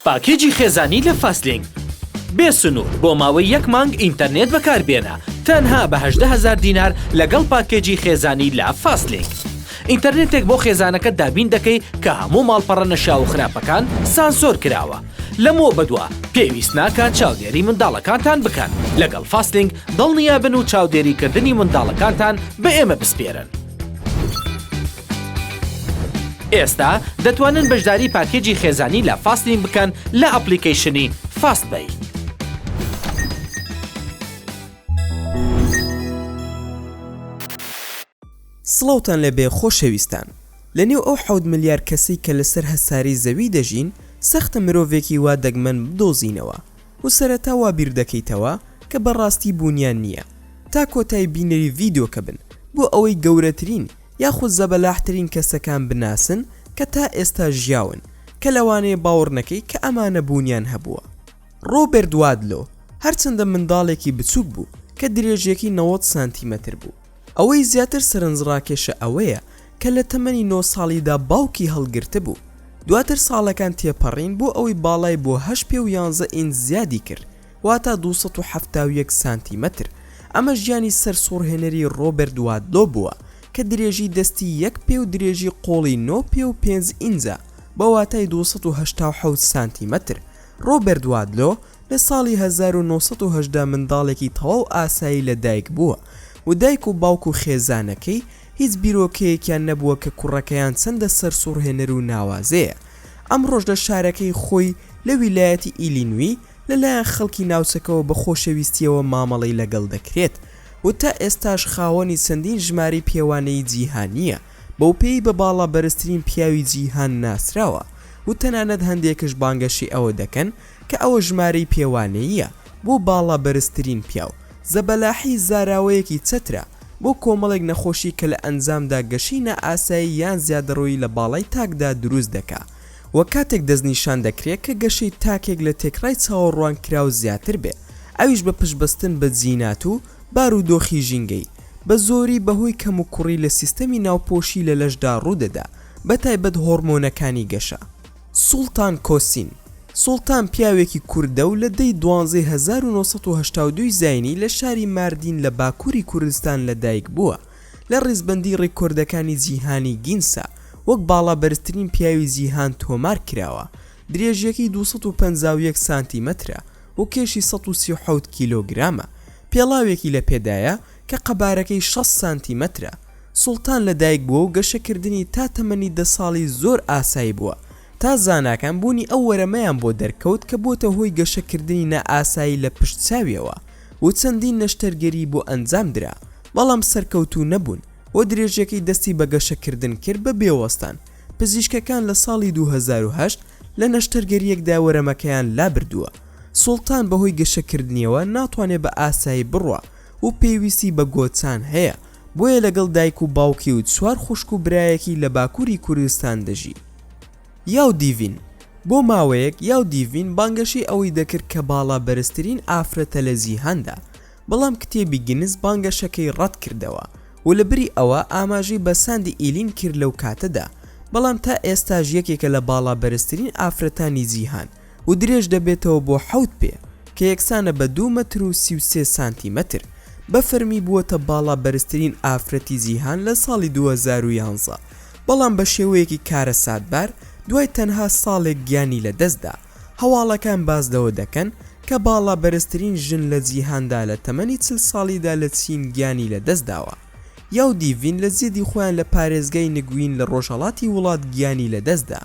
پاکێجی خێزانی لە فاستلینک بێ سنوور بۆ ماوەی یەک مانگ ئینتەرنێت بەکاربێنە تەنها بە هەژدە هەزار دینار لەگەڵ پاکێجی خێزانی لە فاستلینک ئینتەرنێتێک بۆ خێزانەکەت دابین دەکەی کە هەموو ماڵپەڕە نەشیاو و خراپەکان سانسۆر کراوە لەمەوە بەدوا پێویست ناکات چاودێری منداڵەکانتان بکەن لەگەڵ فاستلینک دڵنیابن و چاودێریکردنی منداڵەکانتان بە ئێمە بسپێرن. ئێستا دەتوانن بەشداری پاکێجی خێزانی لە فاستین بکەن لە ئەپلیکەیشنی فاست بەی. سڵاوتان لەبێ خۆشەویستان لە نێو ئەو حەوت ملیار کەسەی کە لەسەر هەسارەی زەوی دەژین سەختە مرۆڤێکی وا دەگمەن بدۆزینەوە و سەرەتا وا بیردەکەیتەوە کە بەڕاستی بوونیان نییە تا کۆتای بینەری ڤیدۆکە بن بۆ ئەوەی گەورەترین یاخود زەبەلاحترین کەسەکان بناسن کە تا ئێستا ژیاون، کە لەوانەیە باوەڕ نەکەی کە ئەمانە بوونیان هەبووە. ڕۆبێرت وادلۆ هەرچەندە منداڵێکی بچووک بوو کە درێژییەکەی نەوەد سانتیمەتر بوو، ئەوەی زیاتر سەرنجڕاکێشە ئەوەیە کە لە تەمەنی نۆ ساڵیدا باوکی هەڵگرتبوو، دواتر ساڵەکان تێپەڕین بۆ ئەوەی باڵای بۆ هەشت پێ و یانزە ئینچ زیادی کرد، واتە دوو سەد و حەفتا و یەک سانتیمەتر، ئەمە ژیانی سەرسوڕهێنەری ڕۆبەرت وادلۆ بووە کە درێژی دەستی یەک پێ و درێژی قۆڵی نۆ پێ و پێنج ئینجە بە واتای دوو سەد و هەشتا و حەوت سانتیمەتر. ڕۆبەرت وادلۆ لە ساڵی هەزار و نۆ سەد و هەژدە منداڵێکی تەواو ئاسایی لە دایک بووە و دایک و باوک و خێزانەکەی هیچ بیرۆکەیەکیان نەبووە کە کوڕەکەیان چەندە سەرسوڕهێنەر و ناوازەیە. ئەمڕۆش لە شارەکەی خۆی لە ویلایەتی ئیلینوی، لەلایەن خەڵکی ناوچەکەوە بە خۆشەویستییەوە مامەڵەی لەگەڵ دەکرێت و تا ئێستاش خاوەنی چەندین ژمارەی پێوانەیی جیهانییە، بەوپێیی بە باڵا بەرزترین پیاوی جیهان ناسراوە و تەنانەت هەندێکش بانگەشەی ئەوە دەکەن کە ئەوە ژمارەی پێوانەییە بۆ باڵا بەرزترین پیاو، زەبەلاحی زاراوەیەکی چەترە بۆ کۆمەڵێک نەخۆشی کە لە ئەنجامدا گەشەی نائاسایی یان زیادەڕۆیی لە باڵای تاکدا دروست دەکا. و کاتێک دەستنیشان دەکرێت کە گەشەی تاکێک لە تێکڕای چاوەڕوانکراو زیاتر بێت، ئەویش بە پشتبەستن بە جینات و بارودۆخی ژینگەیی، بە زۆری بەهۆی کەموکوڕی لە سیستەمی ناوپۆشی لە لەشدا ڕوودەدا، بە تایبەت هۆڕمۆنەکانی گەشە. سوڵتان کۆسین سوڵتان پیاوێکی کوردە و لە دە ی دوانزەی هەزار و نۆ سەد و هەشتا و دوو زاینی لە شاری ماردین لە باکووری کوردستان لەدایکبووە، لە ڕیزبەندی ڕیکۆردەکانی جیهانی گینسا وەک باڵا بەرزترین پیاوی جیهان تۆمار کراوە، درێژیەکەی دوو سەد و پەنجا و یەک سانتیمەترە و کێشی سەد و سی و حەوت کیلۆگرامە، پێڵاوێکی لە پێدایە کە قەبارەکەی شەست سانتیمەترە، سوڵتان لە دایک بووە و گەشەکردنی تا تەمەنی دە ساڵی زۆر ئاسایی بووە تا زاناکان بوونی ئەو وەرەمەیان بۆ دەرکەوت کە بۆتە هۆی گەشەکردنی نائاسایی لە پشت چاویەوە، و چەندین نەشتەرگەری بۆ ئەنجام درا بەڵام سەرکەوتوو نەبوون و درێژەکەی دەستی بە گەشەکردن کرد بە بێوەستان، پزیشکەکان لە ساڵی دوو هەزار و هەشت لە نەشتەرگەریەکدا وەرەمەکەیان لابردووە، سوڵتان بەهۆی گەشەکردنیەوە ناتوانێت بە ئاسایی بڕوا و پێویستی بە گۆچان هەیە، بۆیە لەگەڵ دایک و باوکی و چوار خوشک و برایەکی لە باکووری کوردستان دەژی. یاو دیڤین، بۆ ماوەیەک یاو دیڤین بانگەشەی ئەوەی دەکرد کە باڵا بەرزترین ئافرەتە لە جیهاندا، بەڵام کتێبی گینس بانگەشەکەی ڕەتکردەوە و لەبری ئەوە ئاماژەی بە ساندی ئیلین کرد لەو کاتەدا، بەڵام تا ئێستاش یەکێکە لە باڵا بەرزترین ئافرەتانی جیهان. و درێژ دەبێتەوە بۆ حەوت پێ کە یەکسانە بە دوو مەتر و سی و سێ سانتی مەتر، بە فەرمی بووەتە باڵا بەرزترین ئافرەتی جیهان لە ساڵی دوو هەزار و یانزە، بەڵام بە شێوەیەکی کارەساتبار دوای تەنها ساڵێک گیانی لە دەست دا، هەواڵەکان باس لەوە دەکەن کە باڵا بەرزترین ژن لە جیهاندا لە تەمەنی چل ساڵیدا لە چین گیانی لە دەست داوە، یاو دیڤین لە زێدی خۆیان لە پارێزگای نگوین لە ڕۆژهەڵاتی وڵات گیانی لە دەست دا.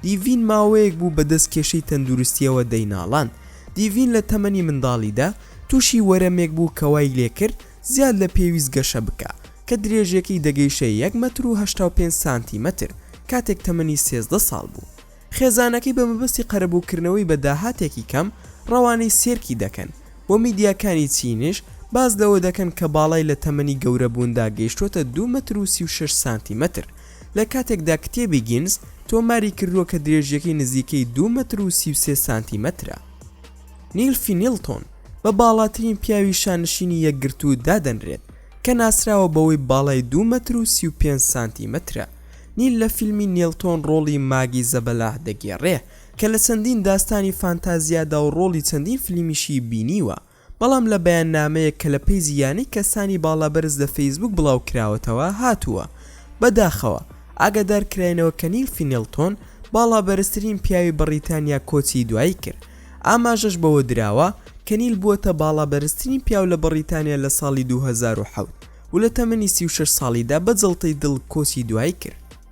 دیڤین ماوەیەک بوو بەدەست کێشەی تەندروستییەوە دەیناڵاند. دیڤین لە تەمەنی منداڵیدا تووشی وەرەمێک بوو کە وای لێکرد زیاد لە پێویست گەشە بکا، کە درێژییەکەی دەگەیشتە یەک مەتر و هەشتا و پێنج سانتیمەتر کاتێک تەمەنی سێزدە ساڵ بوو. خێزانەکەی بە مەبەستی قەرەبووکردنەوەی بە داهاتێکی کەم ڕەوانەی سێرکی دەکەن و میدیاکانی چینیش باس لەوە دەکەن کە باڵای لە تەمەنی گەورەبووندا گەیشتووەتە دوو مەتر و سی و شەش سانتیمەتر. لە کاتێکدا کتێبی گینس تۆماری کردووە کە درێژییەکەی نزیکەی دوو مەتر و سی و سێ سانتیمەترە. نیل فینیلتۆن بە باڵاترین پیاوی شانشینی یەکگرتوو دادەنرێت، کە ناسراوە بەوەی باڵای دوو مەتر و سی و پێنج سانتیمەترە. نیل لە فیلمی نیلتۆن ڕۆڵی ماگی زەبەلاح دەگێڕێ، کە لە چەندین داستانی فانتازیادا و ڕۆڵی چەندین فلیمیشی بینیوە، بەڵام لە بەیاننامەیەک کە لە پەیجی یانەی کەسانی باڵابەرز لە فەیسبووک بڵاوکراوەتەوە هاتووە، بەداخەوە ئاگادارکراینەوە کە نیل فینێڵتۆن باڵابەرزترین پیاوی بەڕیتانیا کۆچی دوایی کرد، ئاماژەش بەوە دراوە کە نیل بووەتە باڵابەرزترین پیاو لە بەڕیتانیا لە ساڵی دوو هەزار و حەوت و لە تەمەنی سی و شەش ساڵیدا بە جەڵتەی دڵ کۆچی دوایی کرد.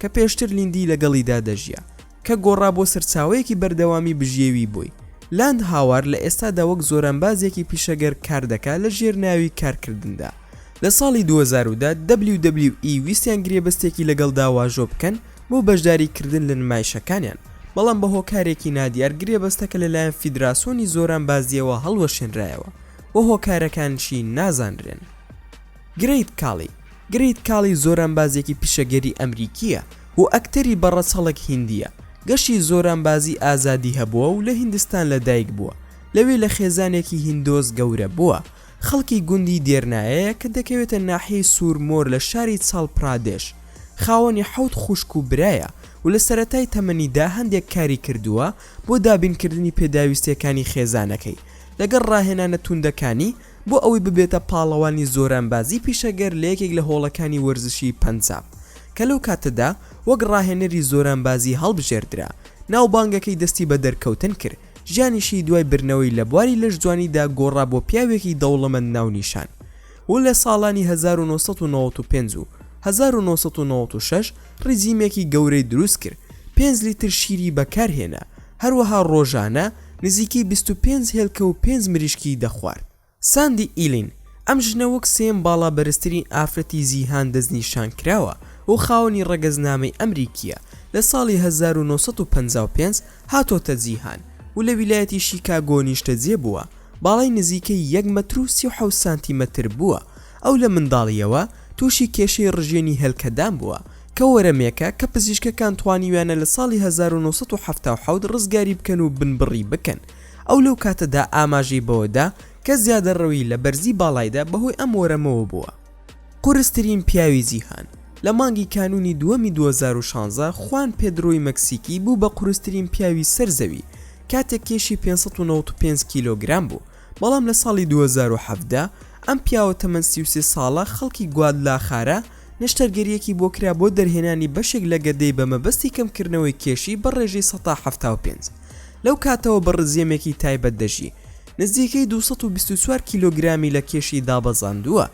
کە پێشتر لیندی لەگەڵیدا دەژیا، کە گۆڕا بۆ سەرچاوەیەکی بەردەوامی بژێوی بۆی. لاند هاوار لە ئێستادا وەک زۆرانبازێکی پیشەگەر کار دەکات لە ژێر ناوی کارکردندا. لە ساڵی دوو هەزار و دە، دەبلیو دەبلیو ئی ویستیان گرێبەستێکی لەگەڵدا واژۆ بکەن بۆ بەشداری کردن لە نمایشەکانیان، بەڵام بە هۆکارێکی نادیار گرێبەستەکە لەلایەن فیدراسۆنی زۆرانبازییەوە هەڵوەشێنرایەوە و هۆکارەکانشی نازانرێن. گرەیت کاڵی، Great Khali، زۆرانبازێکی پیشەگەری ئەمریکییە و ئەکتەری بە ڕەچەڵەک هیندییە. گەشی زۆرانبازی ئازادی هەبووە و لە هیندستان لە دایک بووە. لەوێ لە خێزانێکی هیندۆس گەورە بووە. خەڵکی گوندی دێرنایەیە کە دەکەوێتە ناحیەی سوور مۆر لە شاری چاڵ پرادێش. خاوەنی حەوت خوشک و برایە و لە سەرەتای تەمەنیدا هەندێک کاری کردووە بۆ دابینکردنی پێداویستییەکانی خێزانەکەی لەگەڵ ڕاهێنانە توندەکانی بۆ ئەوەی ببێتە پاڵەوانی زۆرانبازی پیشەگەر لە یەکێک لە هۆڵەکانی وەرزشی پەنجاب، کە لەو کاتەدا وەک راهێنەری زۆرانبازی هەڵبژێردرا، ناوبانگەکەی دەستی بە دەرکەوتن کرد، ژیانیشی دوای بردنەوەی لە بواری لەشجوانیدا گۆڕا بۆ پیاوێکی دەوڵەمەند ناونیشان و لە ساڵانی هەزار و نۆ سەد و نەوەد و پێنج و هەزار و نۆ سەد و نەوەد و شەش ریجیمێکی گەورەی دروست کرد، پێنج لیتر شیری بەکارهێنا، هەروەها ڕۆژانە نزیکەی بیست و پێنج هێلکە و پێنج مریشکی دەخوارد. ساندی ئیلین، ئەم ژنە وەک سێیەم باڵا بەرزترین ئافرەتی جیهان دەستنیشانکراوە و خاوەنی ڕەگەزنامەی ئەمریکییە، لە ساڵی هەزار و نۆ سەد و پەنجا و پێنج هاتۆتە جیهان و لە ویلایەتی شیکاگۆ نیشتەجێ بووە، باڵای نزیکەی یەک مەتر و سی و حەوت سانتیمەتر بووە، ئەو لە منداڵییەوە تووشی کێشەی ڕژێنی هێلکەدان بووە، کە وەرەمێکە کە پزیشکەکان توانیویانە لە ساڵی هەزار و نۆ سەد و حەفتا و حەوت ڕزگاری بکەن و بنبڕی بکەن، ئەو لەو کاتەدا ئاماژەی بەوە دا کە زیادەڕەوی لە بەرزی باڵایدا بەهۆی ئەم وەرەمەوە بووە. قورسترین پیاوی جیهان، لە مانگی کانوونی دووەمی دوو هەزار و شانزە خوان پێدرۆی مەکسیکی بوو بە قورسترین پیاوی سەر زەوی کاتێک کێشی پێنج سەد و نەوەد و پێنج کیلۆگرام بوو، بەڵام لە ساڵی دوو هەزار و حەڤدە ئەم پیاوە تەمەن سی و سێ ساڵە خەڵکی گوادلاخارا نەشتەرگەرییەکی بۆ کرا بۆ دەرهێنانی بەشێک لە گەدەی بە مەبەستی کەمکردنەوەی کێشی بە ڕێژەی سەد تا حەفتا و پێنج لەو کاتەوە بە ڕزیەمێکی تایبەت دەژی نزیکەی دوو سەد و بیست و چوار کیلۆگرامی لە کێشی دابەزاندووە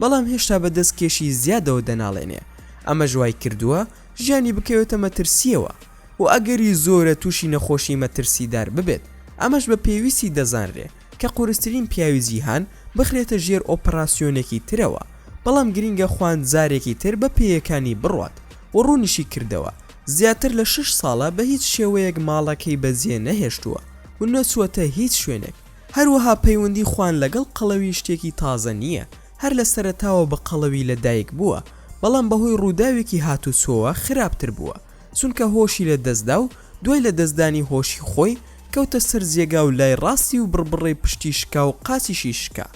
بەڵام هێشتا بە دەست کێشی زیادەوە دەناڵێنێ ئەمەش وایکردووە ژیانی بکەوێتە مەترسییەوە. و ئەگەری زۆرە تووشی نەخۆشی مەترسیدار ببێت، ئەمەش بە پێویستی دەزانرێ کە قورسترین پیاوی جیهان بخرێتە ژێر ئۆپڕاسیۆنێکی ترەوە، بەڵام گرینگە خوان جارێکی تر بە پێیەکانی بڕوات و ڕوونیشی کردەوە زیاتر لە شەش ساڵە بە هیچ شێوەیەک ماڵەکەی بەجێ نەهێشتووە و نەچووەتە هیچ شوێنێک، هەروەها پەیوەندی خوان لەگەڵ قەڵەوی شتێکی تازە نییە، هەر لە سەرەتاوە بە قەڵەوی لە دایک بووە، بەڵام بەهۆی ڕووداوێکی هاتوچۆوە خراپتر بووە. چونکە هۆشی لە دەست دا و دوای لە دەست دانی هۆشی خۆی کەوتە سەر جێگا و لای ڕاستی و بڕبڕەی پشتی شکا و قاچیشی شکا.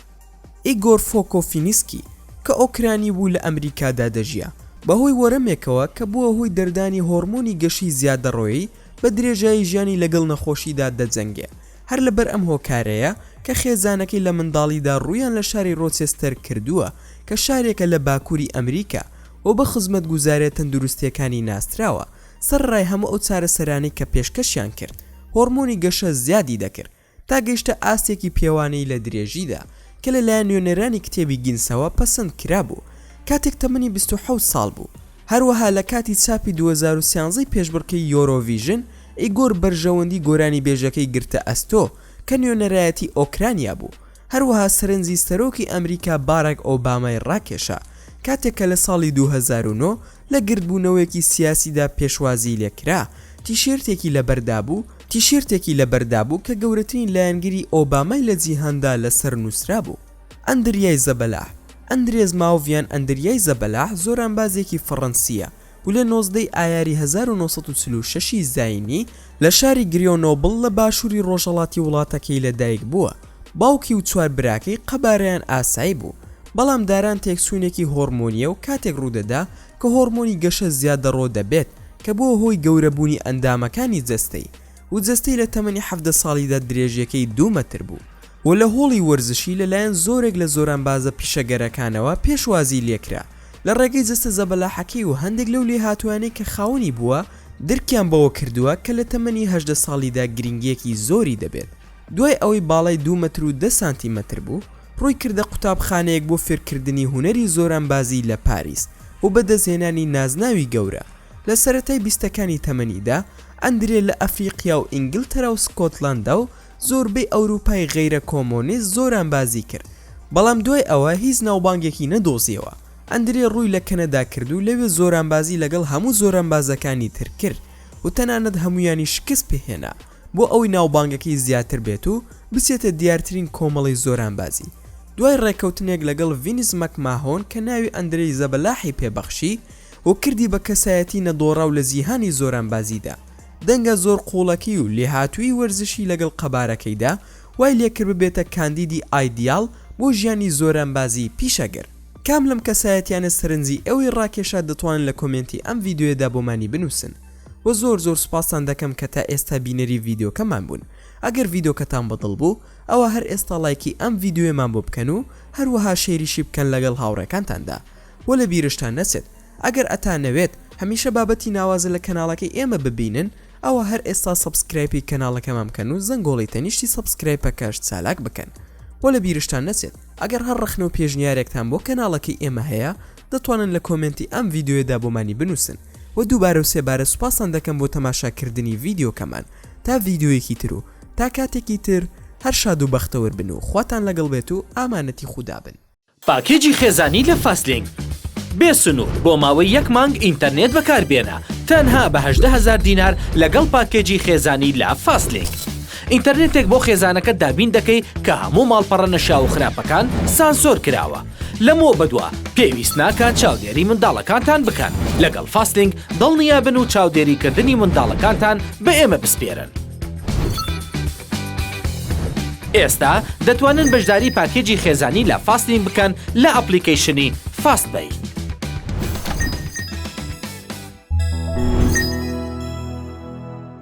ئیگۆر فۆکۆفینیسکی کە ئۆکرانی بوو لە ئەمریکادا دەژیا، بە هۆی وەرەمێکەوە کە بووە هۆی دەردانی هۆرمۆنی گەشی زیادەڕۆیی بە درێژایی ژیانی لەگەڵ نەخۆشیدا دەجەنگێ، هەر لەبەر ئەم هۆکارەیە کە خێزانەکەی لە منداڵیدا ڕوویان لە شاری ڕۆچێستەر کردووە کە شارێکە لە باکووری ئەمریکا و بە خزمەتگوزاریە تەندروستیەکانی ناسراوە، سەرەڕای هەموو ئەو چارەسەرانەی کە پێشکەشیان کرد، هۆڕمۆنی گەشە زیادی دەکرد تا گەیشتە ئاستێکی پێوانەیی لە درێژیدا، کە لەلایەن نوێنەرانی کتێبی گینسەوە پەسەند کرابوو کاتێک تەمەنی بیست و حەوت ساڵ بوو. هەروەها لە کاتی چاپی دوو هەزار و سیانزە ی پێشبڕکێی یۆرۆڤیژن، ئیگۆر بەرژەوەندی گۆرانیبێژەکەی گرتە ئەستۆ، کە نوێنەرایەتی ئۆکرانیا بوو، هەروەها سەرنجی سەرۆکی ئەمریکا باراک ئۆبامای ڕاکێشا کاتێک کە لە ساڵی دوو هەزار و نۆ لە گردبوونەوەیەکی سیاسیدا پێشوازیی لێ کرا، تیشێرتێکی لەبەر دابوو، تیشێرتێکی لەبەر دابوو کە گەورەترین لایەنگری ئۆبامای لە جیهاندا لەسەر نووسرابوو، ئەندریای زەبەلاح، Andres Mauvian ئەندریای زەبەلاح زۆرانبازێکی فەڕەنسییە، و لە نۆزدەی ئایاری هەزار و نۆ سەد و چل و شەش ی زاینی لە شاری گریۆنۆبڵ لە باشووری ڕۆژهەڵاتی وڵاتەکەی لەدایک بووە، باوکی و چوار براکەی قەبارەیان ئاسایی بوو، بەڵام داران تێکچوونێکی هۆڕمۆنییە و کاتێک ڕوودەدا کە هۆڕمۆنی گەشە زیادەڕۆ دەبێت کە بووە هۆی گەورەبوونی ئەندامەکانی جەستەی، و جەستەی لە تەمەنی حەڤدە ساڵیدا درێژیەکەی دوو مەتر بوو و لە هۆڵی وەرزشی لە لایەن زۆرێک لە زۆرانبازە پیشەگەرەکانەوە پێشوازی لێکرا لە ڕێگەی جەستە زەبەلاحەکەی و هەندێک لەو لێهاتووانەی کە خاوەنی بووە درکیان بەوە کردووە کە لە تەمەنی هەژدە ساڵیدا گرنگیەکی زۆری دەبێت دوای ئەوەی باڵای دوو مەتر و دە سانتی مەتر بوو ڕووی کردە قوتابخانەیەک بۆ فێرکردنی هونەری زۆرانبازی لە پاریس و بەدەستهێنانی نازناوی گەورە لە سەرەتای بیستەکانی تەمەنیدا ئەندرێ لە ئەفریقیا و ئینگلتەرا و سکۆتلەندا و زۆربەی ئەوروپای غەیرە کۆمۆنیست زۆرانبازی کرد، بەڵام دوای ئەوە هیچ ناوبانگێکی نەدۆزیەوە. ئەندرێ ڕووی لە کەنەدا کرد و لەوێ زۆرانبازی لەگەڵ هەموو زۆرانبازەکانی تر کرد و تەنانەت هەموویانی شکست پێهێنا بۆ ئەوەی ناوبانگەکەی زیاتر بێت و بچێتە دیارترین کۆمەڵەی زۆرانبازی. دوای ڕێککەوتنێک لەگەڵ ڤینس مەکماهۆن کە ناوی ئەندرێی زەبەلاحی پێ بەخشی، و کردی بە کەسایەتی نەدۆڕاو لە جیهانی زۆرانبازیدا. دەنگە زۆر قووڵەکەی و لێهاتوویی وەرزشی لەگەڵ قەبارەکەیدا وای لێکرد ببێتە کاندیدی ئایدیاڵ بۆ ژیانی زۆرانبازیی پیشەگەر. کام لەم کەسایەتیانە سەرنجی ئێوەی ڕاکێشا دەتوانن لە کۆمێنتی ئەم ڤیدیۆیەدا بۆمانی بنووسن و زۆر زۆر سوپاستان دەکەم کە تا ئێستا بینەری ڤیدیۆکەمان بوون ئەگەر ڤیدۆکەتان بەدڵ بوو ئەوا هەر ئێستا ڵایکی ئەم ڤیدیۆیەمان بۆ بکەن و هەروەها شەیریشی بکەن لەگەڵ هاوڕێکانتاندا وە لە بیرشتان نەچێت ئەگەر ئەتانەوێت هەمیشە بابەتی ناوازە لە کەناڵەکەی ئێمە ببینن ئەوا هەر ئێستا سەبسکرایپی کەناڵەکەمان بکەن و زەنگۆڵی تەنیشتی سەبسکرایپەکەش چالاک بکەن وە لە بیرشتان نەچێت ئەگەر هەر ڕەخنە و پێشنیارێکتان بۆ کەناڵەکەی ئێمە هەیە دەتوانن لە کۆمێنتی ئەم ڤیدیۆیەدا بۆمانی بنووسن وە دووبارە و سێبارە سوپاستان دەکەم بۆ تەماشا کردنی ڤیدیۆکەمان تا ڤیدیۆیەکی تر و تا کاتێکی تر هەر شاد و بەختەوەر بن و خواتان لەگەڵ بێت و ئامانەتی خودا بن. پاکێجی خێزانی لە فاستلینک بێ سنوور بۆ ماوەی یەک مانگ ئینتەرنێت بەکاربێنە تەنها بە هەژدە هەزار دینار لەگەڵ پاکێجی خێزانی لە فاستلینک ئینتەرنێتێک بۆ خێزانەکەت دابین دەکەی کە هەموو ماڵپەڕە نەشیاو و خراپەکان سانسۆر کراوە لەمەوە بەدوا پێویست ناکات چاودێری منداڵەکانتان بکەن لەگەڵ فاستلینک دڵنیابن و چاودێریکردنی منداڵەکانتان بە ئێمە بسپێرن. ئێستا دەتوانن بەشداری پاکێجی خێزانی لە فاستین بکەن لە ئەپلیکەیشنی فاست بەی.